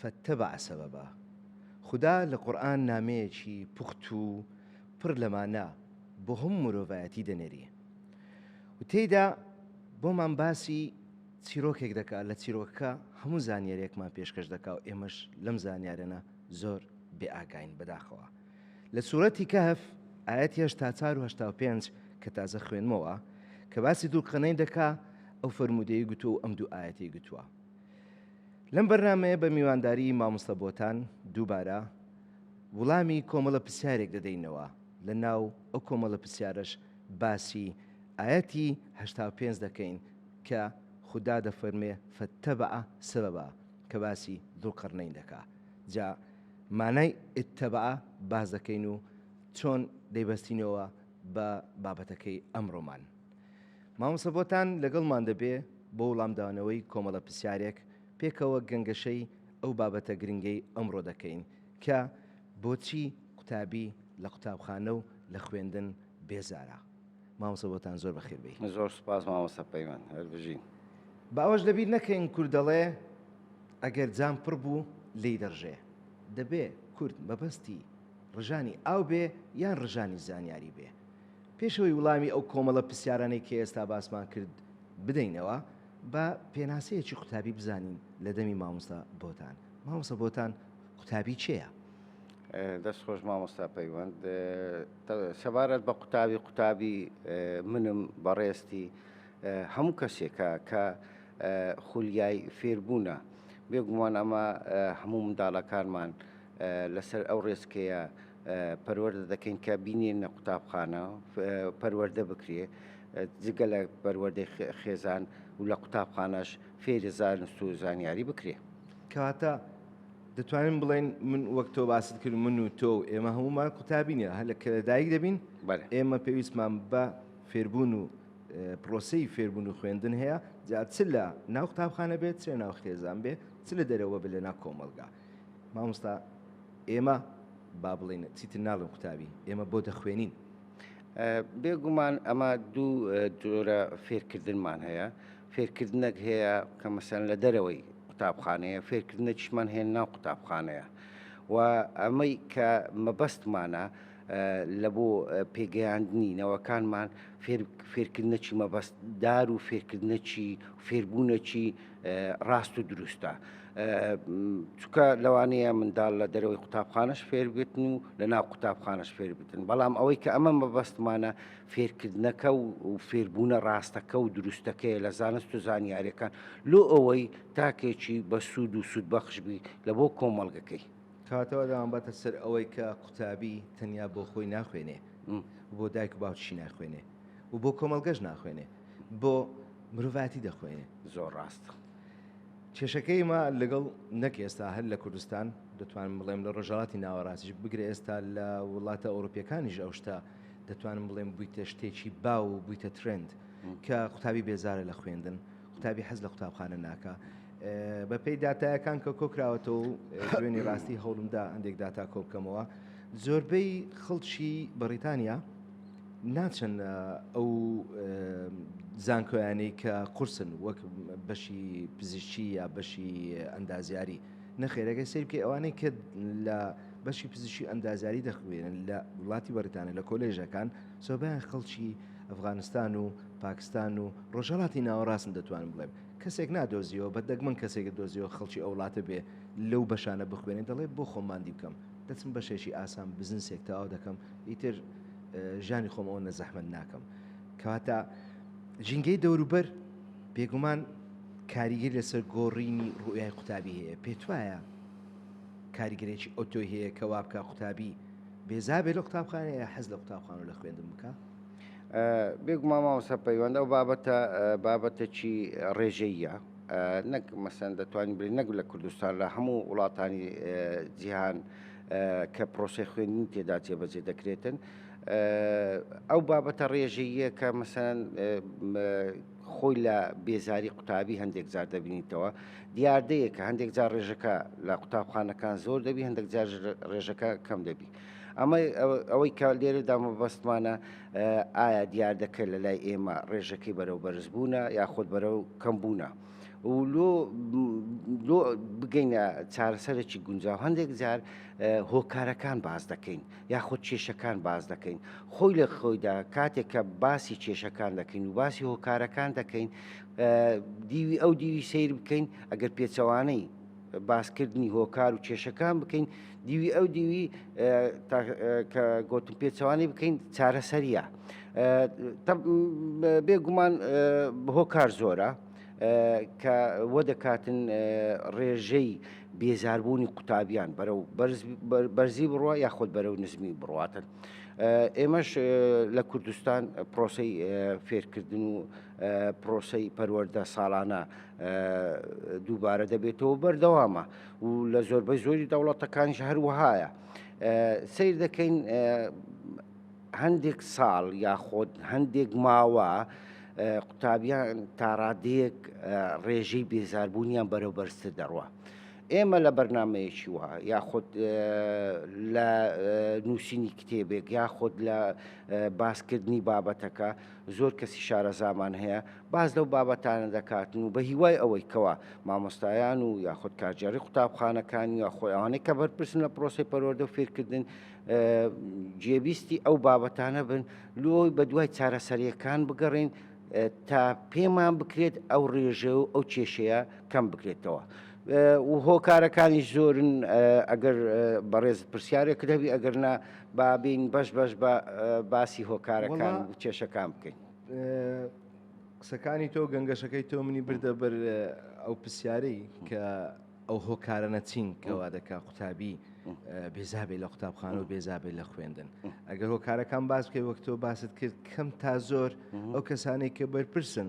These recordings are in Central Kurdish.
فاتبع سببا، خودا لە قورئان نامەیەکی پوخت و پڕ لە مانا بۆ هەموو مرۆڤایەتی دەنێری و تێیدا بۆمان باسی چیرۆکێک دەکا لە چیرۆکەکە هەموو زانیاریەکمان پێشکەش دەکا و ئێمەش لەم زانیارەە زۆر بێ ئاگاین بەداخەوە لە سورەتی کەهف ئاەت هێشتا چار و هشتا و پێنج کە تازە خوێنمەوە کە باسی دووقەنەی دەکا ئەو فرموودەی گوتو و ئەم دوو ئاەتی گوتووە لەم بەرنامەیە بە میوانداری مامۆستا بۆتان دووبارە وڵامی کۆمەڵە پرسیارێک دەدەینەوە لە ناو ئەو کۆمەڵە پرسیارەش باسی ئاەتی هەشتا و پێنج دەکەین کە خودا دەفەرمێ فەتەبع سەبەبا کە باسی دووقڕنین دەکا جا مانای ئتەبع باز دەکەین و چۆن دەیبەستینەوە بە بابەتەکەی ئەمڕۆمان مامۆستا بۆتان لەگەڵمان دەبێ بۆ وڵامدانەوەی کۆمەڵە پرسیارێک پێکەوە گەنگەشەی ئەو بابەتە گرنگەی ئەمڕۆ دەکەین کە بۆچی قوتابی لە قوتابخانە و لە خوێندن بێزارە؟ مامۆستا بۆتان زۆر بەخێر بێی. زۆر سوپاس مامۆستا پەیمان. هەر بژین. با ئەوەش لەبیر نەکەین کورد دەڵێ ئەگەر جام پڕ بوو لێی دەڕژێ. دەبێ کورد مەبەستی ڕژانی ئاو بێ یان ڕژانی زانیاری بێ. پێش ئەوەی وڵامی ئەو کۆمەڵە پرسیارانەی کە ئێستا باسمان کرد بدەینەوە، با پێناسەیەکی قوتابی بزانین لە دەمی مامۆستا بۆتان. مامۆستا بۆتان قوتابی کێیە؟ دەست خۆش مامۆستا پەیوەند. سەبارەت بە قوتابی، قوتابی منم بەڕێزتی هەموو کەسێکە کە خولیای فێربوونە. بێگومان ئەمە هەموو منداڵەکانمان لەسەر ئەو ڕێچکەیە پەروەردە دەکەین کە بینێنە قوتابخانە پەروەردە بکرێ جگە لە پەروەردەی خێزان و لە قوتابخانەش فێری زانست و زانیاری بکرێ کەواتە دەتوانین بڵێن من وەک تۆ باست کرد من و تۆ و ئێمە هەمومان قوتابینە هە لە کەدایک دەبین ئێمە پێویستمان بە فێربوون و پرۆسی فێربوون و خوێندن هەیە جا چ لە ناو قوتابخانە بێت چێ ناو خێزان بێ چ لە دەرەوە بە لە ناو کۆمەلگا مامۆستا ئێمە با بڵێن چیتر ناڵێن قوتابی ئێمە بۆ دەخوێنین بێگومان ئەمە دوو جۆرە فێرکردنمان هەیە فێرکردنەک هەیە کە مەسەن لە دەرەوەی قوتابخانەیە فێرکردنەکیشمان هێن ناو قوتابخانەیە و ئەمەی کە مەبەستمانە لە بۆ پێگەیاندنی نەوەکانمان فێرکردنەکی مەبەستدار و فێرکردنەکی فێربوونەکی ڕاست و دروستە چکە لەوانەیە منداڵ لە دەرەوەی قوتابخانەش فێربێتن و لە ناو قوتابخانەش فێربتن بەڵام ئەوەی کە ئەمە مەبەستمانە فێرکردنەکە و فێربوونە ڕاستەکە و دروستەکەی لە زانست و زانیارەکان لۆ ئەوەی تاکێکی بە سوود و سوود بەخشبی لە بۆ کۆمەڵگەکەی کاتەوە داوام بەتە سەر ئەوەی کە قوتابی تەنیا بۆ خۆی ناخوێنێ بۆ دایک و باوچی ناخوێنێ و بۆ کۆمەلگەش ناخوێنێ بۆ مرۆڤایەتی دەخوێنێ. زۆر ڕاست کێشەکەی ما لەگەڵ نەک ئێستا هەر لە کوردستان دەتوانم بڵێم لە ڕۆژهڵاتی ناوەڕاستیش بگرە ئێستا لە وڵاتە ئەوروپیەکانیش ئەو شتە دەتوانم بڵێم بوویتە شتێکی باو و بوویتە ترند کە قوتابی بێزارە لە خوێندن قوتابی حەز لە قوتابخانە ناکە بە پێی دااتایەکان کە کۆکراوەتەوە دوێنی ڕاستی هەوڵمدا هەندێک داتا کۆبکەمەوە زۆربەی خەڵکی بەڕیتانیا ناچن ئەو زانکۆیانەی کە قورسن وەک بەشی پزیشکی یا بەشی ئەندازیاری نەخێرەکەی سیر بکە ئەوانەی کە لە بەشی پزیشی ئەندازیاری دەخوێنن لە وڵاتی بەریتانە لە کۆلێژەکان سۆبیان خەڵکی ئەفغانستان و پاکستان و ڕۆژهڵاتی ناوەڕاستن دەتوانم بڵێم کەسێک نادۆزیەوە بە دەگمەن کەسێک دۆزیەوە خەڵکی ئەو وڵاتە بێ لەو بەشانە بخوێنێت دەڵێ بۆ خۆماندی بکەم دەچم بەشێکی ئاسان بزنسێک تەواو دەکەم ئیتر ژانی خۆم ئەوەنە زەحمەت ناکەم کەواتە ژینگەی دەوروبەر بێگومان کاریگەر لەسەر گۆڕینی ڕوئای قوتابی هەیە پێت وایە کاریگەرێکی ئۆتۆی هەیە کە وا بکە قوتابی بێزابێ لە قوتابخانەیە حەز لە قوتابخانە لە خوێندن بکە بێگوما ماوەسە پەیوەندە و بابەتە بابەتەکی ڕێژەیە نەک مەسەن دەتوانین بری نەک لە کوردستان لە هەموو وڵاتانی جیهان کە پرۆسی خوێندنی تێدا جێبەجێ دەکرێتن ئەو بابەتە ڕێژەیە کە مەسەن خۆی لە بێزاری قوتابی هەندێک جار دەبینیتەوە دیاردەیە کە هەندێک جار ڕێژەکە لە قوتابخانەکان زۆر دەبی هەندێک جار ڕێژەکە کەم دەبی ئەمە ئەوەی کە لێرەدا مەبەستمانە ئایا دیاردەکە لە لای ئێمە ڕێژەکەی بەرەو بەرزبوونە یاخود بەرەو کەمبوونە. لۆ لۆ بگەینە چارەسەرێکی گونجاو هەندێک جار هۆکارەکان باز دەکەین یاخود کێشەکان باز دەکەین خۆی لە خۆیدا کاتێک کە باسی کێشەکان دەکەین و باسی هۆکارەکان دەکەین دیوی ئەو دیوی سیر بکەین ئەگەر پێچەوانەی باسکردنی هۆکار و کێشەکان بکەین دیوی ئەو دیوی کە گۆتم پێچوانی بکەین چارەسەریە بێگومان هۆکار زۆرە کە وە دەکاتن ڕێژەی بێزاربوونی قوتابیان بەرەو بەرزی بڕە یاخود بەرەو نزمی بڕاتن. ئێمەش لە کوردستان پرۆسی فێرکردن و پرۆسی پەروەەردە ساڵانە دووبارە دەبێتەوە بەردەوامە و لە زۆربەی زۆری دەوڵەتەکانش هەروەهایە سیر دەکەین هەندێک ساڵ یاخۆت هەندێک ماوە قوتابیان تاڕادەیەک ڕێژەی بێزاربوونیان بەرەو بەرزتر دەڕوە. ئێمە لە بەرنمەیەکی وە یاخود لە نووسینی کتێبێک یاخود لە باسکردنی بابەتەکە زۆر کەسی شارەزامان هەیە باس لەو بابەتانە دەکاتن و بە هیوای ئەوەی کەوا مامۆستایان و یاخود کارگێڕی قوتابخانەکان یا خۆی ئەوانەی کە بەرپرسن لە پرۆسی پەروەردە و فێرکردن جێبیستی ئەو بابەتانە بن لۆی بە دوای چارەسەریەکان بگەڕین تا پێمان بکرێت ئەو ڕێژە و ئەو کێشەیە کەم بکرێتەوە. و هۆکارەکانی زۆرن ئەگەر بەڕێز پرسیارێک دەبی ئەگەرنا بابین بەش بەش بە باسی هۆکارەکان و کێشەکان بکەین. قسەکانی تۆ گەنگەشەکەی تۆ منی بردە بەر ئەو پرسیارەی کە ئەو هۆکارە نەچین کەوا دەکا قوتابی بێزابێ لە قوتابخانە و بێزابێت لە خوێندن ئەگەر هۆکارەکان باس بکەی وەک تۆ باست کرد کەم تا زۆر ئەو کەسانێک کە بەرپرسن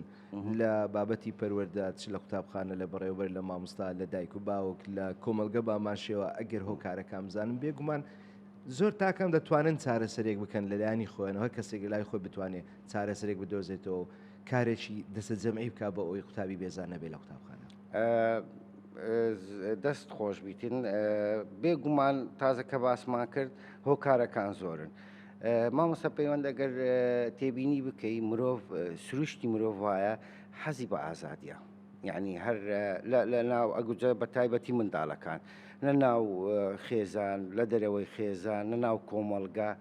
لە بابەتی پەروەەردا چ لە قوتابخانە لە بەڕێوبەر لە مامۆستا لە دایک و باوک لە کۆمەلگە باماشەوە ئەگەر هۆکارەکان بزانم بێگومان زۆر تاکان دەتوانن چارەسەرێک بکەن لە لایەنی خۆیانەوە هەر کەسێک لە لای خۆی بتوانێت چارەسەرێک بدۆزێتەوە و کارێکی دەسە جەمعی بکە بە ئەوی قوتابی بێزان نەبێت لە قوتابخانە. دەست خۆش بیتن بێگومان تازە کە باسمان کرد هۆکارەکان زۆرن. مامۆستا پەیوەند ئەگەر تێبینی بکەی مرۆڤ سروشتی مرۆڤ وایە حەزی بە ئازادیە. یانی هەر لە ناو ئەگوجە بە تایبەتی منداڵەکان لە ناو خێزان لە دەرەوەی خێزان لە ناو کۆمەڵگا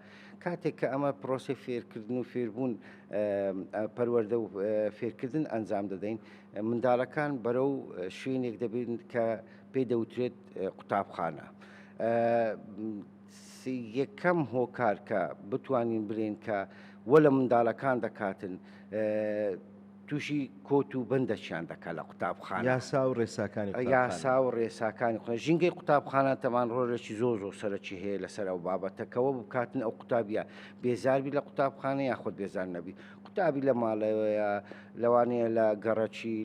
کاتێک کە ئەمە پرۆسی فێرکردن و فێربوون پەروەەردە و فێرکردن ئەنجام دەدەین منداڵەکان بەرەو شوێنێک دەبین کە پێی دەوترێت قوتابخانە. یەکەم هۆکارکە بتوانین برێن کە وە لە منداڵەکان دەکاتن تووشی کۆت و بەندەچیان دەکات لە قوتابخانە. یاسا و ڕێساکانی قوتابخانە. یاسا و ڕێساکانی قوتابخانە. ژینگەی قوتابخانە تەمان ڕۆلێکی زۆر زۆر سەرەکی هەیە لەسەر ئەو بابەتە کە وە بکاتن ئەو قوتابییە بێزار بی لە قوتابخانە یاخود بێزار نەبی. قوتابی لە ماڵەوەیە، لەوانەیە لە گەڕەکی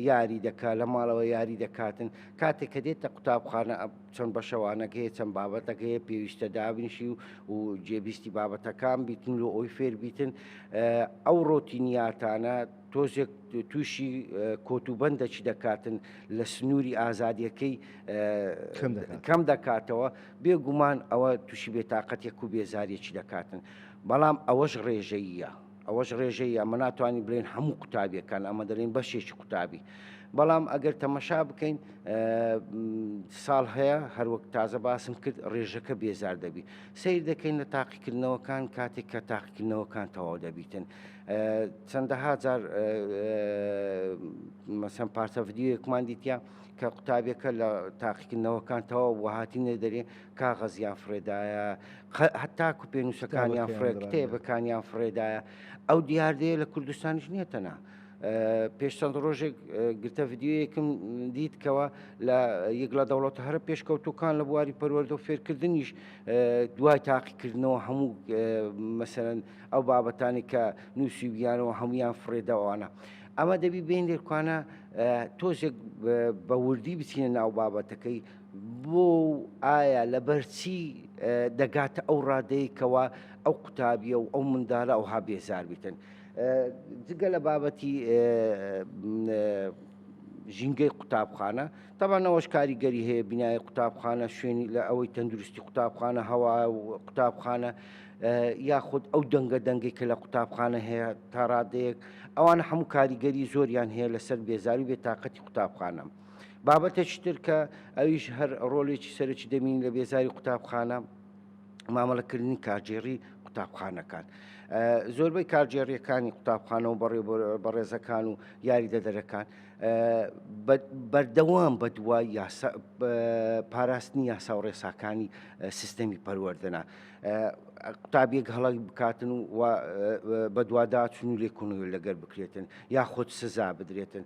یاری دەکات، لە ماڵەوە یاری دەکاتن. کاتێک کە دێتە قوتابخانە، چەند بەشەوانەک هەیە چەند بابەتەک هەیە پێویستە دابنیشی و و جێبیستی بابەتەکان بیتن لۆ ئەوی فێر بیتن ئەو ڕۆتینیاتانە تۆزێک تووشی کۆتوبندەکی دەکاتن لە سنووری ئازادیەکەی کەم دەکاتەوە بێگومان ئەوە تووشی بێتاقەتێک و بێزارێکی دەکاتن بەڵام ئەوەش ڕێژەییە. ئەوەش ڕێژەیە، ئەمە ناتوانین بڵێین هەموو قوتابیەکان، ئەمە دەڵێین بەشێکی قوتابی. بەڵام ئەگەر تەمەشا بکەین ساڵ هەیە هەروەک تازە باسم کرد ڕێژەکە بێزار دەبی. سیر دەکەین لە تاقیکردنەوەکان کاتێک کە تاقیکردنەوەکان تەواو دەبیتن. چەندەها جار مەسەن پارچە ڤیددیوەکمان دیتە کە قوتابیەکە لە تاقیکردنەوەکان تەواو وهاتینە دەرێ کاغەزیان فڕێدایە هەتاکو پێنووسەکانیان فڕێ کتێبەکانیان فڕێدایە ئەو دیاردەیە لە کوردستانیش نییە تەنا پێش چەند ڕۆژێک گرتە یددیوەیەکم دیت کەەوە لە یەک لە دەوڵەت هەرە پێشکەوتوەکان لە بواری پەروەەردە و فێرکردنیش دوای تاقیکردنەوە هەموو مەسەرەن ئەو بابەتانی کە نووسیویانەوە هەمویان فرێداوانە. ئەمە دەبی بین لێکوانە تۆزێک بە وردی بچینە ناو بابەتەکەی بۆ و ئایا لەبەر چی دەگاتە ئەو ڕادەیە کەوا ئەو قوتابیە و ئەو مندالە ئەوها بێزار بیتن جگە لە بابەتی ژینگەی قوتابخانە تەبانەوەش کاریگەری هەیە بینای قوتابخانە شوێنی لە ئەوەی تەندروستی قوتابخانە هەوا قوتابخانە یاخود ئەو دەنگە دەنگی کە لە قوتابخانە هەیە تا ڕادەیەک ئەوان هەموو کاریگەری زۆریان هەیە لەسەر بێزاری بێتاقەتی قوتابخانەم. بابەتێکی تر کە ئەویش هەر ڕۆلێکی سەرەکی دەمین لە بێزاری قوتابخانە مامەڵەکردنی کارگێڕی قوتابخانەکان. زۆربەی کارگێڕیەکانی قوتابخانەوە بەڕێ بەڕێزەکان و یاریدەدەرەکان بەردەوام بە دوای پاراستنی یاسا و ڕێساکانی سیستەمی پەروەردەنا. قوتابیەک هەڵک بکاتن و بەدواداچون و لێکۆنەوە لەگەر بکرێتن یاخود سزا بدرێتن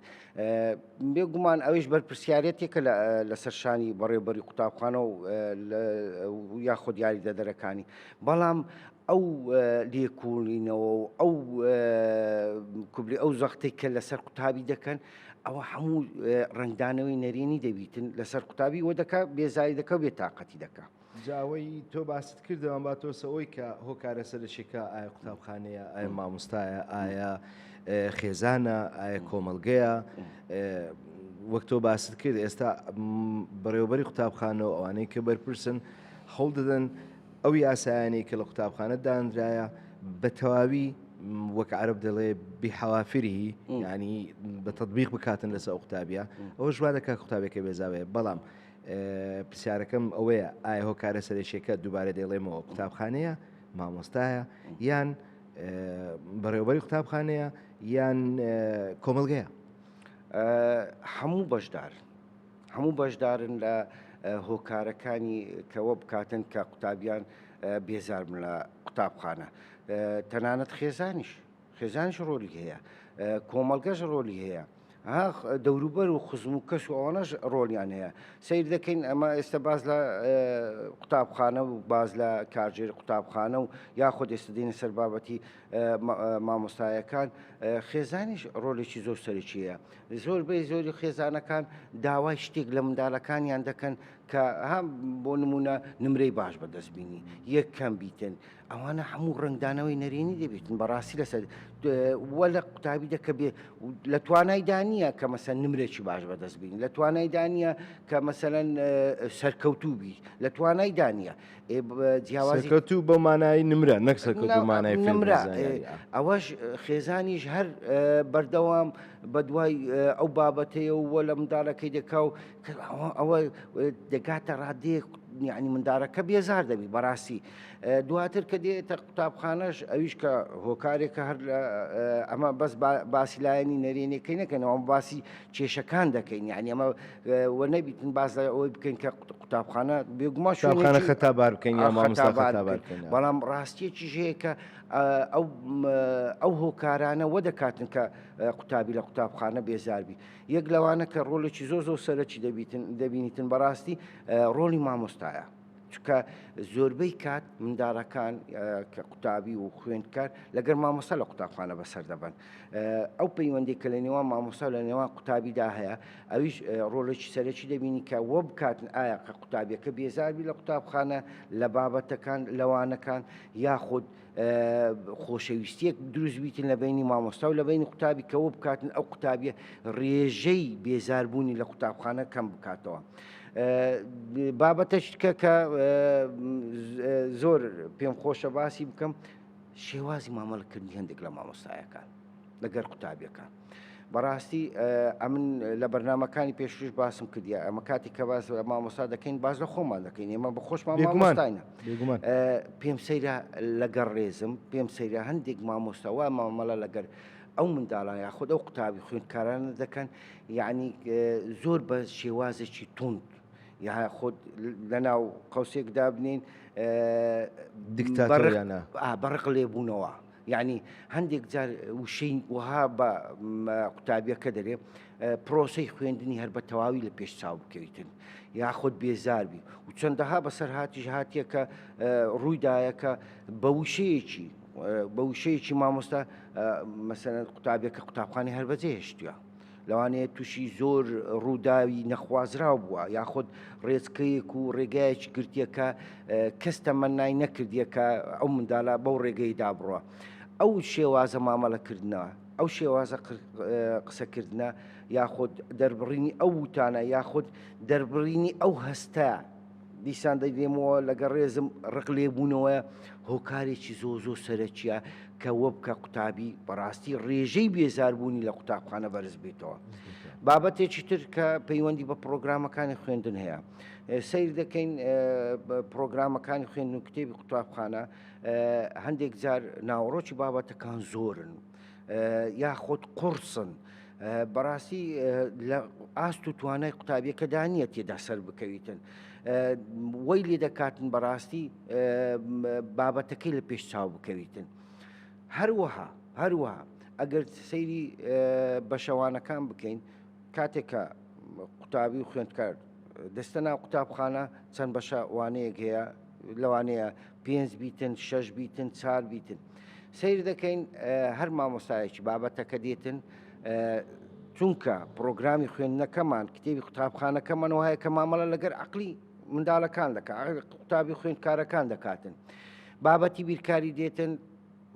بێگومان ئەویش بەرپرسیارەتێکە لەسەر شانی بەڕێبەری قوتابخانە و یاخود یاریدەدەرەکانی بەڵام ئەو لێکولینەوە و ئەو کوبلی ئەو زەختی کە لەسەر قوتابی دەکەن ئەوە هەموو ڕنگدانەوەی نەرێنی دەبیتن لەسەر قوتابی وە دەکە بێزاری دەکە بێ تااقەتی دەکە جا ئەوەی تۆ باست کردەوە با تۆسە ئەوی کە هۆکارە سەرشێکە ئایا قوتابخانەیە ئایا مامۆستایە ئایا خێزانە ئایا کۆمەلگەیە وەک تۆ باست کرد ئێستا بەڕێوبەری قوتابخانەوە ئەوانەی کە بەرپرسن هەوڵ دەدەن ئەو یاسایانی کە لە قوتابخانە دانراە بە تەواوی وەک عرب دەڵێ بحوافری ینی بە تطببیق بکاتن لەسەر قوتابە ئەوە ژوا دەکات قوتابێکە بێزاوێ بەڵام پرسیارەکەم ئەوەیە ئایا هۆکارە سەرەکیەکە دووبارە دەیڵێمەوە قوتابخانەیە مامۆستایە یان بەڕێوبەری قوتابخانەیە یان کۆمەلگەیە هەموو بەشدار هەموو بەشدارن لە هۆکارەکانی کەوە بکاتن کە قوتابیان بێزاربن لە قوتابخانە تەنانەت خێزانیش خێزانیش ڕۆلی هەیە، کۆمەڵگەش ڕۆلی هەیە، ها دەوروبەر و خزم و کەس و ئەوانەش ڕۆلیان هەیە سیر دەکەین ئەمە ئێستا باز لە قوتابخانە و باز لە کارژێر قوتابخانە و یاخود ئێستا دێنە سەر بابەتی مامۆستایەکان خێزانیش ڕۆلێکی زۆر سەرکیەیە زۆر بەی زۆری خێزانەکان داوای شتێک لە مندالەکانیان دەکەن کە هەم بۆ نمونە نمرەی باش بەدەستبینی یەکەم بیتن ئەوانە هەموو ڕنگدانەوەی نەرێنی دەبێتن بەڕاستی لەسەر وە لە قوتابی دەکە بێ لە توانای دانیە کە مەسەر نمرێکی باش بەدەست بین لە توانای دانیە کە مەسەەن سەرکەوتوو بی لە توانای دانیە جیاوازکەوت و بە مانایی نمرە نەکسەکەمانای نمرە ئەوەش خێزانیش هەر بەردەوام بە دوای ئەو بابەتەیە و وە لە منداڵەکەی دەکا و ئەوە دەگاتە ڕادێک یعنی مندارەکە بێزار دەبی بەڕاستی دواتر کە دێتە قوتابخانەش ئەویش کە هۆکارێکە هەر ئەمە بەس باسی لایەنی نەرێنەکەی نەکەنەوە ئەم باسی کێشەکان دەکەین یعنی ئەمە وە نەبیتن باس لە ئەوەی بکەین کە قوتابخانە بێگومان شوێنخانە خەتا بار بکەین یا مامۆستا بەڵام ڕاستیەکی ژەیە کە ئەو ئەو هۆکارانە وە دەکاتن کە قوتابی لە قوتابخانە بێزاربی یەک لەوانە کە ڕۆلێکی زۆ زۆ سەرەکی دەبیتن دەبینیتن بەڕاستی ڕۆلی مامۆستایە چونکە زۆربەی کات منداڵەکان کە قوتابی و خوێندکار لەگەر مامۆستا لە قوتابخانە بەسەر دەبن ئەو پەیوەندی کە لە نێوان مامۆستا لە نێوان قوتابیدا هەیە ئەویش ڕۆڵێکی سەرەکی دەبینی کە وە بکاتن ئایا کە قوتابیەکە بێزاربی لە قوتابخانە لە بابەتەکان لەوانەکان یاخود خۆشەویستیەک دروست بیتن لە بینی مامۆستا و لە بینی قوتابی کەەوە بکاتن ئەو قوتابیە ڕێژەی بێزاربوونی لە قوتابخانە کەم بکاتەوە. بابەتەش کە کە زۆر پێم خۆشە باسی بکەم شێوازی مامەڵکردنی هەندێک لە مامۆستایەکان لەگەر قوتابیەکان. بەڕاستی ئەمن لە بەرنمەکانی پێشترش باسم کردیا ئەمە کاتی کە باز لە مامۆستا دەکەین باز لە خۆمان دەکەین ئێمە بە خۆشمان مامۆستاینە پێم سەیرە لەگەڕ ڕێزم پێم سەیرە هەندێک مامۆستاوا مامەڵە لەگەر ئەو منداڵان یاخود ئەو قوتابی خوێندکارانە دەکەن یعنی زۆر بە شێوازێکی توند یا خۆت لەناو قوسێک دابنین دکتاتۆریانە بەڕق لێبوونەوە یانی هەندێک جار وشەی وەها بە قوتابیەکە دەرێ پرۆسەی خوێندنی هەر بە تەواوی لە پێش چاو بکەویتن یاخود بێزاربی و چەندەها بەسەر هاتیش هاتیەکە ڕوویدایەکە بە وشەیەکی بە وشەیەکی مامۆستا مەسەن قوتابیەکە قوتابخانی هەر بەجێ هێشتوە لەوانەیە تووشی زۆر ڕووداوی نەخوازراو بووە یاخود ڕێچکەیەک و ڕێگایەکی گرتیەکە کەس تەمەنای نەکردیەکە ئەو مندالا بەو ڕێگەیدا بڕە ئەو شێوازە مامەڵەکردنەوە ئەو شێوازە قسەکردە یاخود دەربڕینی ئەو وتانە یاخود دەربڕینی ئەو هەستە دیسان دەگرێمەوە لەگە ڕێزم ڕق لێبوونەوە هۆکارێکی زۆ زۆ سەرەکیە کە وە بکە قوتابی بەڕاستی ڕێژەی بێزاربوونی لە قوتابخانە بەرز بێتەوە بابەتێکی تر کە پەیوەندی بە پرۆگرامەکانی خوێندن هەیە سیر دەکەین پرۆگرامەکانی خوێندن کتێبی قوتابخانە هەندێک جار ناوەڕۆکی بابەتەکان زۆرن یاخود قوڕسن بەڕاستی لە ئاست و توانای قوتابیەکەدا نییە تێدا سەر بکەویتن وەی لێ دەکاتن بەڕاستی بابەتەکەی لە پێش چاو بکەویتن هەروەها هەروەها ئەگەر سەیری بەشەوانەکان بکەین کاتێکە قوتابی و خوێندکار دەستە ناو قوتابخانە چەند بەشە وانەیەک هەیە لەوانەیە پێنج بیتن شەش بیتن چار بیتن سیر دەکەین هەر مامۆستایەکی بابەتەکە دێتن چونکە پرۆگرامی خوێندنەکەمان کتێبی قوتابخانەکەمان وایە کە مامەڵە لەگەر عقلی منداڵەکان دەکات قوتابی خوێندکارەکان دەکاتن بابەتی بیرکاری دێتن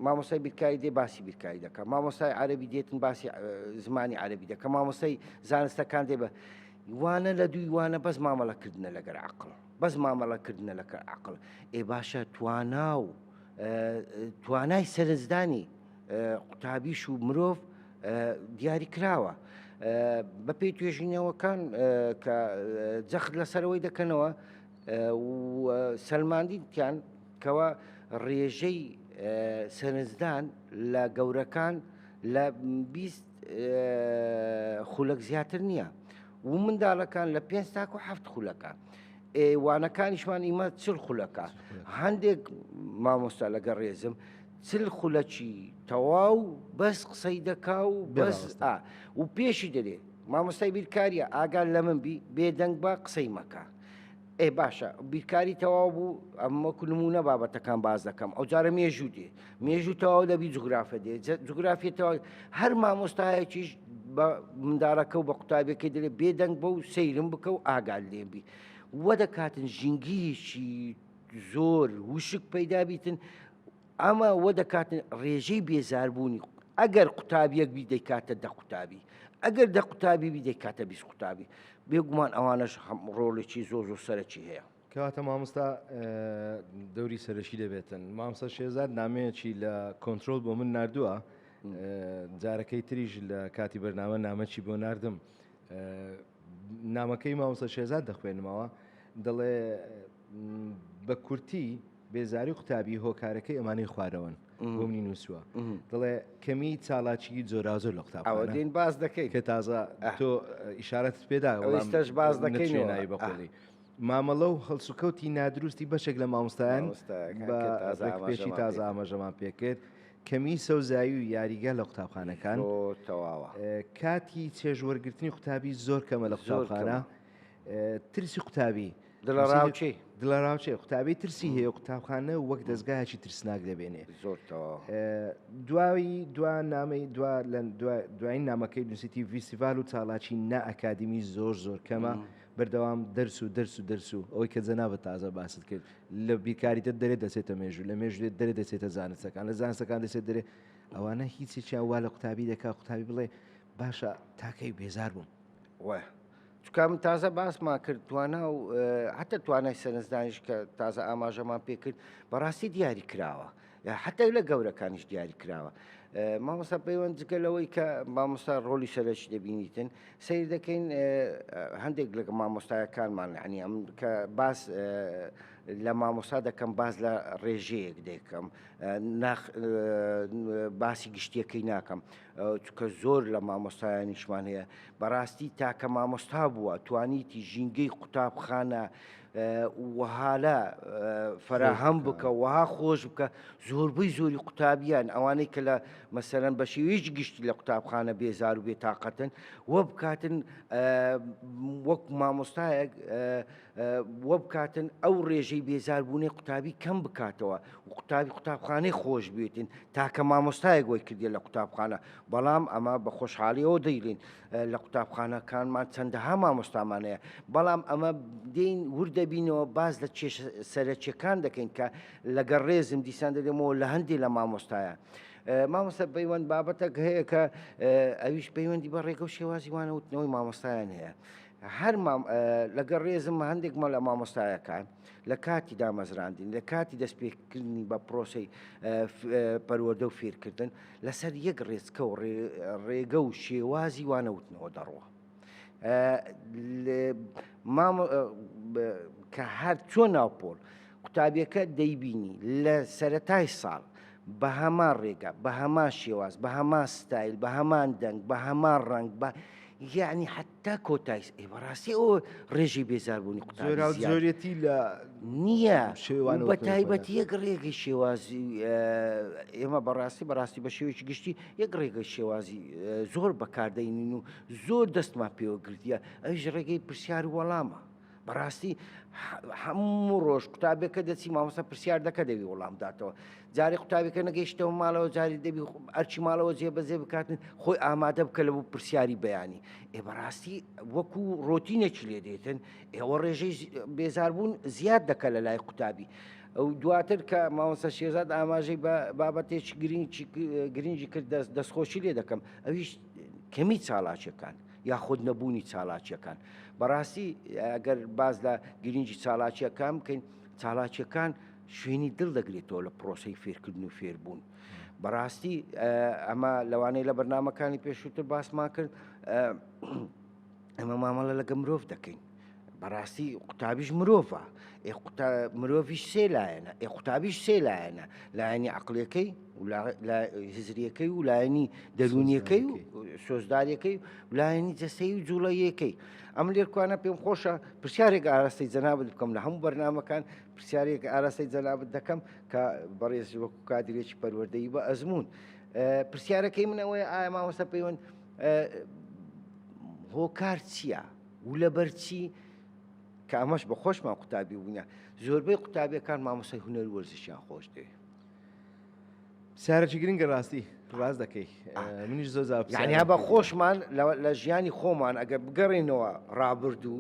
مامۆسای بیرکاری دێ باسی بیرکاری دەکات مامۆسای عربی دێتن باسی زمانی عربی دەکە مامۆسای زانستەکان دێ بە وانە لە دووی وانە بەس مامەڵەکردنە لەگەر عقل بەس مامەڵە کردنە لەکە عقڵ ئێ باشە توانا و توانای سەرنجدانی قوتابیش و مرۆڤ دیاری کراوە بەپی توێژینەوەکان کە جەخت لەسەرەوەی دەکەنەوە سەلماندیتیان کەەوە ڕێژەی سەرنجدان لە گەورەکان لە 20 خولەک زیاتر نییە و منداڵەکان لە پێنج تاکو هەفت خولەکە وانەکانیشمان ئیمە چل خولەکە هەندێک مامۆستا لەگە ڕێزم چل خولەکی تەواو بەس قسەی دەکا و بەس و پێشی دەێ مامۆستای بیرکاریە ئاگال لە من بی بێدەنگ بە قسەی مەکە ئێ باشە بیرکاری تەواو بوو ئەم وەکو نمونە بابەتەکان باز دەکەم ئەو جارە مێژوو دێ مێژوو تەواو دەبی جوگرافە دێ جوگرافی تەواو هەر مامۆستایەکیش بە منداڵەکە و بە قوتابەکە دەێ بێدەنگ بە و سەیرم بکە و ئاگال لێبی وە دەکاتن ژینگیشی زۆر وشک پەیدابیتن ئەمە وە دەکاتە ڕێژەی بێزاربوونی، ئەگەر قوتابیەک بی دەیکاتە دە قوتابی، ئەگەر دە قوتابی بی دەیکاتە بیست قوتابی، بێگومان ئەوانەش ڕۆڵێکی زۆر زۆر سەرەکی هەیە. کەواتە مامۆستا دەوری سەرەکی دەبێتن. مامۆستا شێرزاد نامەیەکی لە کۆنترۆل بۆ من ناردووە جارەکەی تریش لە کاتی بەرنامە نامەکی بۆ ناردم نامەکەی مامۆستا شێرزاد دەخوێنمەوە دەڵێ بە کورتی بێزاری و قوتابی هۆکارەکەی ئەمانەی خوارەوەن بۆ منی نووسوە دڵێ کەمی چالاکی جۆراوزۆر لە قوتاب ئەوەدین باز دەکەی کە تازە تۆ ئیشارەت پێدا ئەوستەش باز دەکەی نوێناوی بەقۆڵی مامەڵە و هەڵسوکەوتی نادروستی بەشێک لە مامۆستایان پێشی تازە ئاماژەمان پێکرد کەمی سەوزایی و یاریگە لە قوتابخانەکان تەواوە کاتی چێژوەرگرتنی قوتابی زۆر کەمە لە قوتابخانە ترسی قوتابی دڵەڕاوکێ دڵەڕاوکێ قوتابی ترسی هەیە و قوتابخانە وەک دەستگایەکی ترسناک دەبێنێ زۆرتەوە دواوی دوا نامی دوا لە دوای نامەکەی نووسیتی ویسیڤال و چاڵاکی نائکادیمی زۆر زۆر کەمە بەردەوام دەرس و دەرس و دەرس و ئەوەی کە جەنابە تازە باست کرد لە بیرکاریتە دەرێ دەچێتە مێژوو لە مێژوێت دەرێ دەچێتە زانستەکان لە زانستەکان دەچێت دەرێ ئەوانە هیچێکیان وا لە قوتابی دەکا قوتابی بڵێ باشە تاکەی بێزار بووم وە چونکە من تازە باسمان کرد توانا و حتا توانای سەرنجدانیش کە تازە ئاماژەمان پێ کرد بەڕاستی دیاری کراوە حتا لە گەورەکانیش دیاری کراوە مامۆستا پەیوەند جگە لەوەی کە مامۆستا ڕۆلی سەرش دەبینیتن سیر دەکەین هەندێک لە مامۆستایەکانمان عنی ئەم کە باس لە مامۆستا دەکەم باز لە ڕێژەیەک دەکەم باسی گشتیەکەی ناکەم چونکە زۆر لە مامۆستایانیشمان هەیە بەڕاستی تاکە مامۆستا بووە توانیتی ژینگەی قوتابخانە وهالە فراهەم بکە وها خۆش بکە زۆربەی زۆری قوتابیان ئەوانەی کە لە مەسەرەن بە شێویش گشتی لە قوتابخانە بێزار و بێتاقەتن وە بکاتن وەک مامۆستایەک و بکاتن ئەو ڕێژەی بێزاربوونەی قوتابی کەم بکاتەوە و قوتابی قوتابخانەی خۆش بێتین تاکە مامۆستایە گۆی کردێ لە قوتابخانە بەڵام ئەمە بە خۆشحاڵیەوە دەیڵین لە قوتابخانەکانمان چەندەها مامۆستامانەیە بەڵام ئەمە دین وردەبینەوە باز لە چێش سەرەکیەکان دەکەین کە لەگەڵ ڕێزم دیسان دەێمەوە لە هەندی لە مامۆستایە. مامۆستا پەیوەند بابەتەک هەیە کە ئەویش پەیوەندی بە ڕێگە و شێوازی وانەوتنەوەی مامۆستایان هەیە هەر مام لەگەڵ ڕێزم هەندێک مەڵە مامۆستایەکان لە کاتی دامەزراندین لە کاتی دەستپێکردنی بە پرۆسی پەروەدە و فێرکردن لەسەر یەک ڕێزکە و ڕێگە و شێوازی وانەوتنەوە دەڕوە. کە هەر چۆن ناوپۆل قوتابیەکە دەیبینی لە سەرەتای ساڵ بە هەمان ڕێگە بە هەمان شێواز بە هەمان ستایل بە هەمان دەنگ بە هەمان ڕەنگ بە یعنی حتا کۆتایس ئێ بەڕاستی ئەو ڕێژی بێزاربوونی قوتابێتی لە نییە شێوان بە تایبەتی یەک ڕێگەی شێوازی ئێمە بەڕاستی بەڕاستی بە شێوەیەکی گشتی یەک ڕێگەی شێوازی زۆر بەکاردەینین و زۆر دەستمان پێوە گرتیە ئەوش ڕێگەی پرسیار وەڵامە بەڕاستی هەموو ڕۆژ قوتابێکە دەچی مامۆستا پرسیار دەکە دەوی وڵام داتەوە جارێک قوتابێکە نەگەیشتەوە ماڵەوە جاری دەبی ئەرچی ماڵەوە جێ بەزێ بکاتن خۆی ئامادە بکە لە بوو پرسیاری بەیانی ئێ بەڕاستی وەکو ڕۆتینێکی لێ دێتن ئێوە ڕێژەی بێزاربوون زیاد دەکە لە لای قوتابی. ئەو دواتر کە ماوەسە شێزاد ئاماژەی بە بابەتێک گرنگی گرنگی کرد دەستخۆشی لێ دەکەم ئەویش کەمی چاڵاکیەکان یاخود نەبوونی چالاکیەکان بەڕاستی ئەگەر باز لە گرنگی چالاکیەکان بکەین چالاکیەکان شوێنی دڵ دەگرێتەوە لە پرۆسی فێرکردن و فێربوون. بەڕاستی ئەمە لەوانەیە لە بەرنمەکانی پێشووتر باسمان کرد ئەمە مامەڵە لەگە مرۆڤ دەکەین بەڕاستی قوتابیش مرۆڤە ئێ مرۆڤیش سێ لایەنە ئێ قوتابیش سێ لایەنە لایەنی عقلەکەی هزریەکەی و لایەنی دەروونیەکەی و سۆزدارەکەی و لایەنی جەسەی و جوڵەیەکەی ئەم لێرکوانە پێم خۆشە پرسیارێک ئاراستەی جەنابت بکەم لە هەموو بەرنمەکان پرسیارێک ئاراستەی جەنابت دەکەم کە بەڕێز وەکو کادرێکی پەروەردەی بە ئەزمون پرسیارەکەی منەوەی ئایا مامۆستا پەیوەند هۆکار چییە؟ و لەبەر چی؟ کە ئەمەش بە خۆشمان قوتابی بوونە زۆربەی قوتابیەکان مامۆسای هونەر وەرزشیان خۆش دێ سارەکی گرنگە ڕاستی ڕاست دەکەی منیش زۆر زیانیا بە خۆشمان لە ژیانی خۆمان ئەگەر بگەڕێنەوە ڕابردوو